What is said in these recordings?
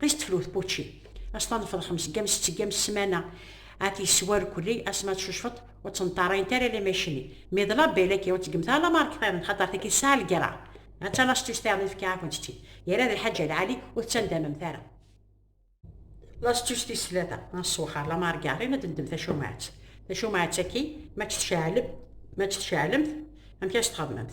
Qis tefrut pučči. As tanefḍ xems gam sett gam ssmana. Ad t-yesswar kulli asma tcucfeḍ ur tt-nṭarayent ara alamma yecni. Mi d label akka ur tt-gemt ara lamarkeṭ-iḍen xaṭer tagi tesɛa lgerra. Ha tta lastus tiɣen i fkiɣ-akent-tt-id. Yerra d lḥaǧ Alɛali ur tettandamemt ara. Lastus tis tlata n ṣṣwexer lamargarin ad d-neddem tacumɛet. Tacumɛet-agi ma tt-tceɛlem ma tt-tceɛlemt amek as-txedmemt?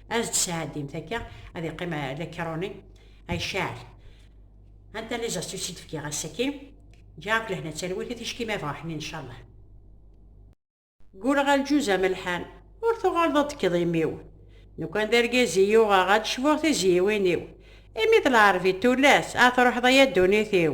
ad d-sɛeddimt akka ad iqqim la kironi ay cɛal anta li zas tussid fkiɣ ass-agi ǧa akk lehna talwit i ticki ma bɣa ḥnin incallah gguleɣ aljuz amelḥan ur tuɣaleḍ ad tekkeḍ imi-w nukan d argaz i yuɣeɣ ad cbuɣ tizyiwin-iw imi d lɛerbi tullas a truḥeḍ ay a ddunit-iw